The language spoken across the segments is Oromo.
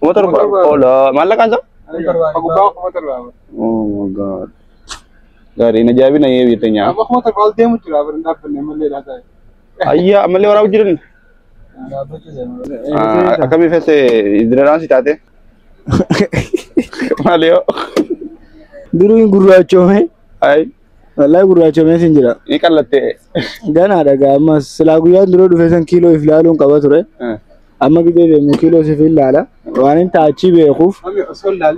Kuma torba. Ola maallaqaan isaa? Gubbaa kuma torba. Oh my god. Gaarii na jaabina yee biyya teenyaa. Amma kuma torba ol deemu jira bara hin dhaabbanne malee dhaa ta'e. Ayyaa ammallee waraabuu jiran. Akkamii feese idiraan si taate? Maali yoo? Duruu hin gurraachoome. Ayi Wallahi gurraachoomee sin jira. ni qallattee. Ganaadha gaa ammas silaa guyyaan dura dhufe san kiiloo if laaluun qaba ture. Amma gidee deemu kiiloo siif hin laala. Waan hin taachii beekuuf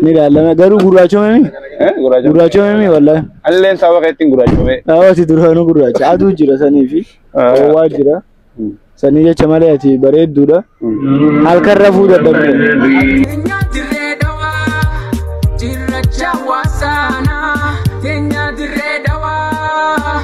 ni ilaalama. Garuu gurraachomemi. Gurraachomemi wallahi. Alleen saba keettiin gurraachomee. Dhaabati duraanuu gurraacha. Aduu jira sanii fi ho'aa jira. Sanii jecha malee ati bareedduudha. Halkan rafuu dadhabde. Kenya dirree dhawaa cirracha waasaanaa.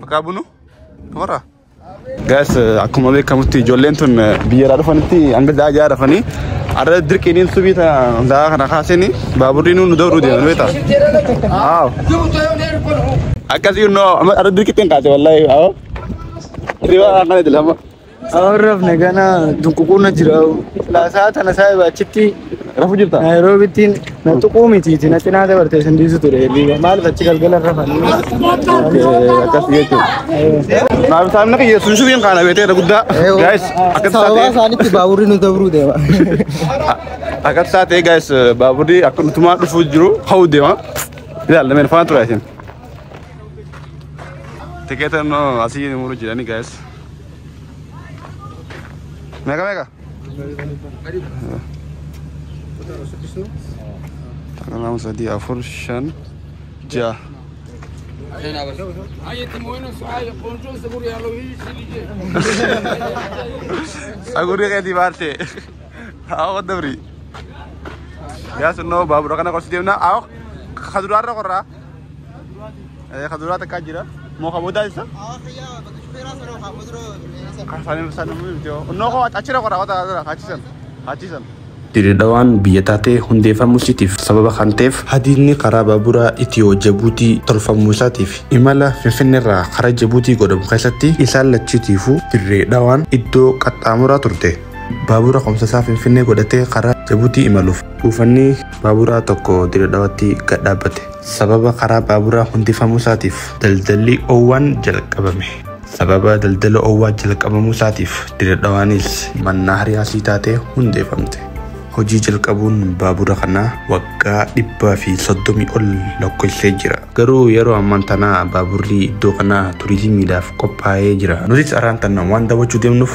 Bakka bunu warra. Gaas akkuma beekamutti ijoolleen tun biyyarraa dhufanitti hanga da'a ja'a rafanii arra dirqiiniin subii da'a kana kaasanii baaburri nu dawruu deeman beektaa. Aaw. Akkasii innoo amma arra dirqiitti hin kaase wallaahi aaw. Hirriba akkana jedhama. Awwan rafne gana dunququunna jira. Laasaa tana saahiba achitti Rafu jirta? Naayiroobiittiin na tuquu mitiiti na cinaa dabartee sin dhiisu ture. Liiga maaliif achi galgala rafanii? Okay, akkas jechuudha. Naaf taa'imna kiyya sun shubiin kaana beeteera guddaa. Guys, akkas Sababaa taatee isaanitti baaburri nu dabruu deema. akkas taatee guys baaburri akka nutumaa dhufuu jiru hawuu deema. Ilaalla meen faana tura isin. Tikeeta immoo asii muru jirani guys. Meeqa meeqa? Takka lama sadii afur shan ja'a. Sagurri keetii baarte. Hawa dabri. Yaa sunnoo baabura kana qorsi deemna. Hawa kaduraarra qorraa. Eh, ka duraa takkaa jira. Moo ka boodaa isa? Ka isaanii isaan namni miti yoo. Onnoo koo achira qoraa wata asira achisan. Achisan. Diridhawaan biyya taatee hundeeffamuu isiitiif sababa kan ta'eef hadiidni karaa baaburaa Itiyoo Jabuutii tolfamuu isaatiif imala Finfinneerraa karaa Jabuutii godhamu keessatti isaan lachiitiifuu dirree dhawaan iddoo qaxxaamuraa turte. Baabura komsasaa Finfinnee godhatee karaa Jabuutii imaluuf buufanni Baaburaa tokko Diredhawatti gad dhaabbate. Sababa karaa baaburaa hundifamuu isaatiif daldalli owwaan jalqabame. Sababa daldala owwaa jalqabamuu isaatiif Diredhawaanis mannaahariyaa sii taatee hundeefamte. Hojii jalqabuun baabura kanaa waggaa dhibbaa fi soddomii ol lakkoofsee jira. Garuu yeroo ammaan tanaa baaburri iddoo kanaa turizimiidhaaf qophaa'ee jira. Nutis arraan tana waan daawwachuu deemnuuf.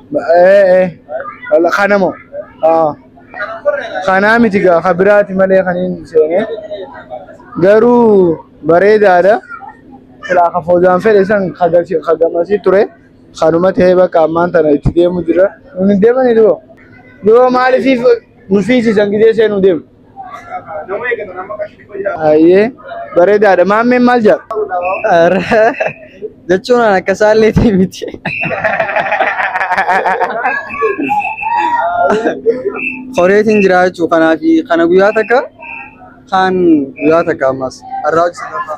Eh, eh. Wala kana moo? Ah. Kanaa miti gaa ka biraati malee kan hin seene. Garuu bareedaadha. Silaa ka foodaan fedhe san ka gasi- ka gamasii ture. Kanuma ta'ee bakka ammaan tana itti deemu jira. Nuti deemanii duboo. Yoo maaliif nu fiisisan gidee seenuu deemu? Ayyee bareedaadha. Maammeen maal jedha? Jechuun an akka saalleetii miti. Horeetiin jira jechuu kanaafi kana guyyaa takka kaan guyyaa takka ammas har'aa hojii sadaffaa.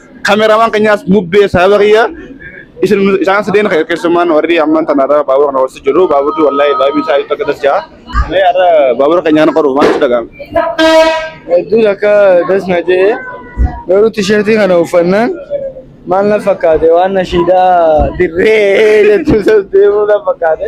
Kameramaan keenyaas mubbee sababa kiyya isin isaan sadeen keessummaan warri amman tana irra baabura kana hoosisu jiru baaburri wallahi baay'ee isaa itti akka tasjaa. Mee har'a baabura keenyaan qoru maaltu dhaga'ama? Hedduun akka das na jedhe garuu tisheertii kana uffannaan maal na fakkaate waan nashiidaa dirree jettu deemuu na fakkaate.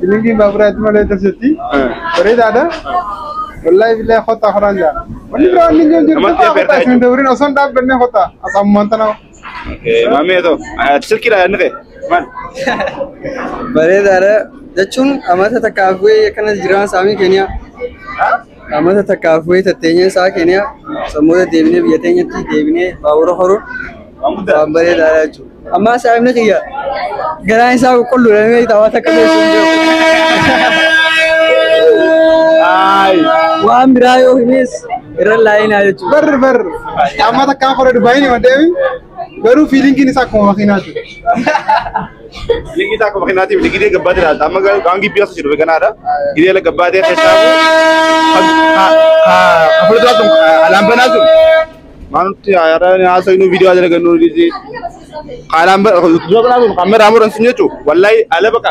Bilingiin baaburaatti malee tolchetti. Bareedaadha. Wallahi billahi kottaa horaan jaa. Wanni biraa wanni hin jiru. Namatti Kottaa kottaa isin dawriin osoo hin dhaabbannee kottaa. Asammaan tana. Maamee too. Silkiidha yaadni kee. Maal? Bareedaadha. Jechuun amata takkaaf bu'ee akkana jiraan saamii keenya. Amata takkaaf wayita teenyee isaa Keeniyaa sammuuta deebinee biyya teenyatti deebinee baabura horuun waan bareedaadha jechuudha. Amma saayimni kiyya garaan isaa qulqulluudha ni beektaa waan takka beektu hin beeku. Waan biraa yoo himes irra laayinaa jechuudha. Barri barri. Amma takkaa kora Dubaayii ni maddeemi. Garuu fiilingiin isaa akkuma makiinaa jechuudha. Linkii isaa akkuma kennaatiin miti gidee gabbaatee laata. Amma garuu waan gibbii as jiru beekanaadha. Gidee la gabbaatee keessaa hafuura isaa sun alaan banaa sun. Maanutti haaraa haasa inuu viidiyoo haasa lagannu dhiisee. Alaan banaa sun kamera muran sun jechuun wallahi ala baqa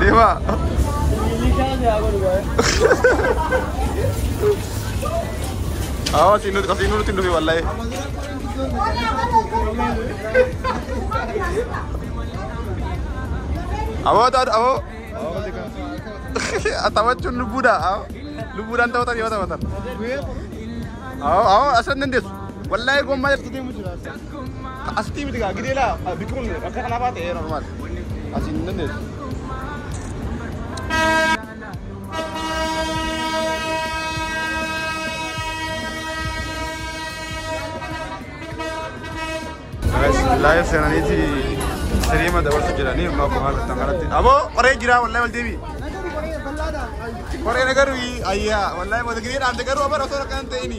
Deemaa. Awwa siin nuti qasiin nuti hin dhufe wallahi. Awwa taatu awwa. Taphachuun lubbuudha. Awwa. Lubbuudhaan taphatan yoo taphatan. Awwa awwa asan dandeessu. Wallahi gommaa jalqabee mu jira. Asitti miti gaa gidee laa bikki kun akka kanaa baate ee normaal. Asiin hin dandeessu. Laayif seenaniiti siriima dabarsu jedhanii immoo akkuma argattan kanatti. Aboo qoree jira wallahi wal deebi. Qoree na garuu ayyaa wallahi wal gidee dhaamte garuu abar osoo akkan ta'ini.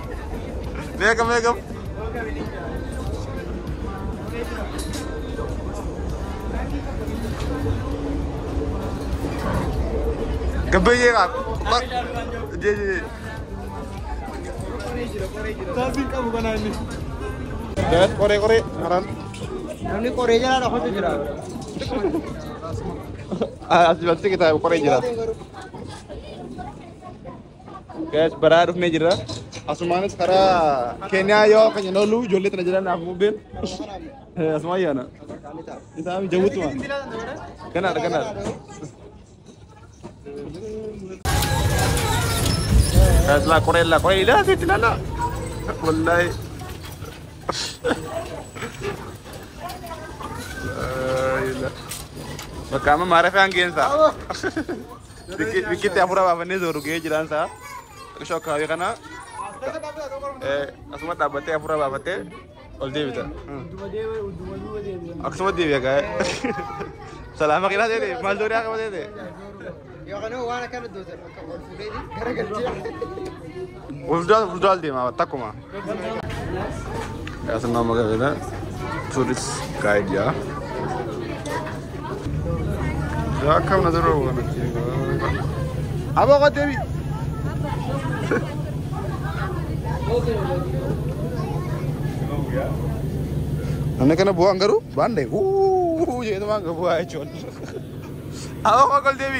Meeqa meeqa? Gabbayyee qabu. Jee jee jee. Taasiin qabu kanaa inni. Daa'et qoree qoree karaan. Namni qoree jalaa dhokatu jira. Asii battee kitaaba qoree jira. Guys, baraa dhufnee jirra. Asumaanis karaa Keeniyaa yoo keenya nooluu ijoollee tana jiran naaf bubbeen. Asumaan yaana. Isaa jawwutu waan. Ganaadha ganaadha. Guys, laa qoree laa qoree ilaa asitti ilaa laa. Wallaahi. Bakka amma maarafee hangeensaa. Bikkitti hafuura baafannee sooru gahee jiraan isaa. Qishoo akkaawii kana asuma dhaabbattee hafuura baafattee ol deebita. Akkasuma deebi'a gaa'e. Salaama qinaa ta'e maal doonii akka ta'e. Yookaan waan akkana dootan akka ol fuudhee gara galchee. Fuldura fuldura deema takkuma. As nama magaalaa turis gaayid yaa. Akka mana dura waan Aboo qottee bi. Namni kana bu'aan garuu baandee. Uuu jedhama bu'aa jechuun. Aboo qottee bi.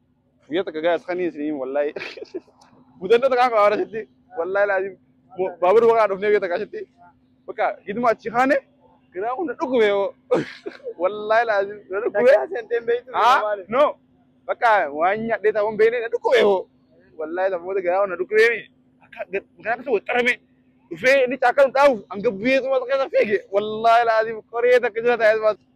Guyyaa takka gaas kan isin wallahi. Mudannoo takka akka waara sitti wallahi laazim baabura bakka dhufnee guyyaa takka sitti bakka giduma achi kaane garaa kun na dhukkube yoo wallahi laazim na dhukkube. Takkaa seenteen beektu Ah nama maali? no bakka waan nyaadhee ta'uun beekne na dhukkube yoo wallahi sababoota garaa kun na dhukkube mi akka garaa keessa waxxarame dhufee inni caakkaa nu dhaabuuf hanga biyyeetu mata keessa fiige wallahi laazim qoree takka jira ta'ee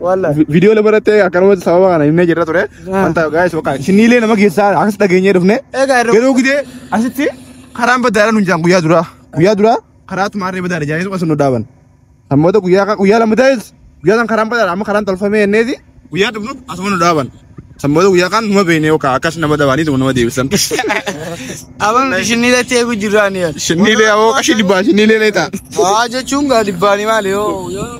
Wallahi. Vi- Viidiyoo lama irratti akkanumatti sababa kana himnee jirra ture. Ah. Wanta gaa'is bakka isiniilee nama keessaa akkas dhageenyee dhufne. Egaa yeroo- Yeroo gidee asitti karaan badaadha nuun jaan guyyaa duraa. Guyyaa duraa karaa tumaarree badaadha jaanii tokko nu dhaaban. Sammoota guyyaa ka- guyyaa lama ta'es guyyaa san karaan badaadha amma karaan tolfamee enneeti guyyaa dhufnu asuma nu dhaaban. Sammoota guyyaa kaan numa beeknee yookaan akkas nama dabaanii tokko nama deebisan. Aban ishinii latti eegu jiraan yaa. Shinniilee awoo qashii dhibbaa shinniilee leetaa. Waa jechuun gaa dhibbaanii maali yoo.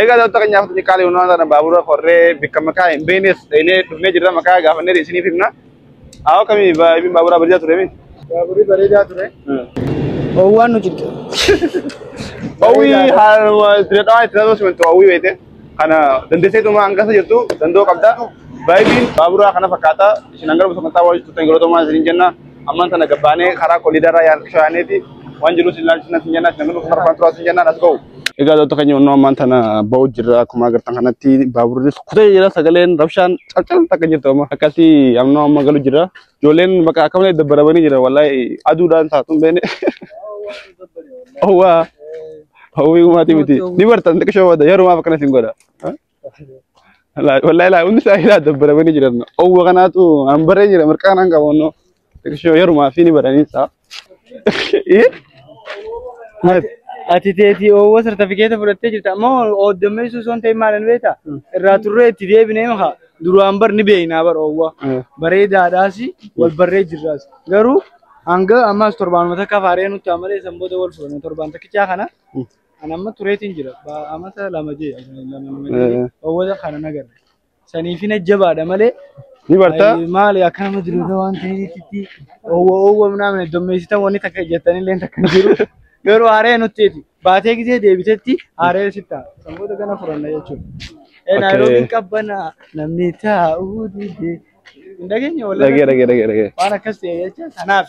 Egaa daawwattoota keenyaaf ni qaali hundumaa sana baabura korree bikka maqaa hin beeknes dheenee dhufnee jirra maqaa gaafannee isiniif himna. Haa akkamii baay'een baaburaa bareedaa ture miti. Baaburri bareedaa ture. Oowwaan nu jirtu. Hawwii haaluma itti dadhabaa itti dadhabaa simantu hawwii beekte. Kana dandeesseetuma hanga isa jirtu danda'uu qabda. Baay'een baaburaa kana fakkaata. Isin hanga dhufu sagantaa wajjin turtan yeroo ta'u maal isiniin jenna. Amman tana gabbaanee karaa koliidaraa shaaneeti waan jiruus ilaalchisna sin jennaan sin guluuf marfaan turaa sin jennaan as ba'u. Egaa doota keenya onnoo ammaan tana ba'u jirra akkuma agartan kanatti baaburris kutee jira sagaleen rabshaan calcal takka jirtu amma akkasii amnoo amma galu jira ijoolleen bakka akka malee dabbarabanii jira wallahi aduudhaan taatuun beene owwaa hawwii gumaatii miti ni bartan xiqqishoo booda yerumaaf akkana isin godha. Laa- Wallahi laa hundi isaa ilaa dabbaramanii jiran. Owwa kanaatu an baree jira mirqaan an qabu onnoo. Xiqishoo yerumaa fi ni baranii isaa. Eh? Maati? Ati teetii oowwa sartifikeeta fudhattee jirta ammoo ooddommeessuu osoo hin ta'in maal hin beekta? Irraa turree itti deebinee maha duraan bar ni beeknaa bar oowwa. Eh. Bareedaadhaas wal barree jirraas. Garuu hanga ammaas torbaanuma takka faaree nutti amalee san booda wal fuudhame torbaan takkichaa kana Ani amma tureetiin jira. Ba- Amata lama jee lama nama Eh. jee owwata kana nagarre. Saniif hin ajjabaadha malee Ni bartaa? ay, maali akka nama jiruudha waan ta'eetti owwa owwa namni dommeessitan wanni takka ejjettanillee takka hin jiru. Garuu aaree nutteeti. Baatee gisee deebitetti aaree sitta. Sanboota gana furanna jechuudha. Eh, Okay. Naayiroobiin qabbana namni taa'uu dide. Hin dhageenye wallee. Dhagee dhagee dhagee dhagee. Waan akkas ta'e jecha kanaaf.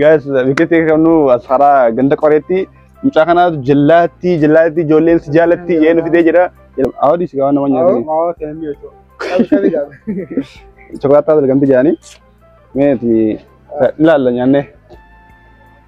Gaas biqilti qabnu as karaa ganda qoreetti mucaa kanaatu jallaatti jallaatti ijoolleen si jaallatti jee nu fidee jira. Awwaadii si gaawwan nama nyaatanii. Awwa kan inni jechuudha. Qabi qabi qabi. Chokolaataa argamti jedhanii. Meeti ilaalla nyaannee.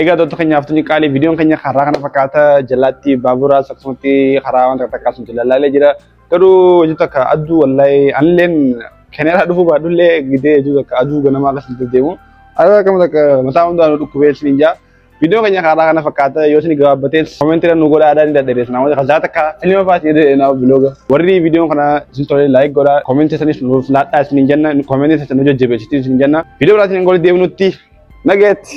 Egaa doonta keenyaaf tuni qaalii viidiyoon keenya karaa kana fakkaata jalaatti baaburaa akkasumatti karaa wanta takkaa sun jalaalaalee jira. Garuu hojii takka aduu wallahi anilleen keneeraa dhufuu baadhullee gidee hojii takka aduu ganamaa akkas nuti deemu. Aduu akkama takka mataa hundaan dhukkubee isin ijaa. Viidiyoon keenya karaa kana fakkaata yoo isin gabaabbatee koomentiidhaan nu godhaa adaan dadhabeessa namoota kasaa takka filma faati jedheenaa bilooga. Warri viidiyoon kana isin tolee laayik godhaa koomentii isanis nuuf laadhaa isin jenna koomentii isanis nu jajjabeessitii isin jenna. Viidiyoo biraatiin hin goolii deebinutti Nageetti.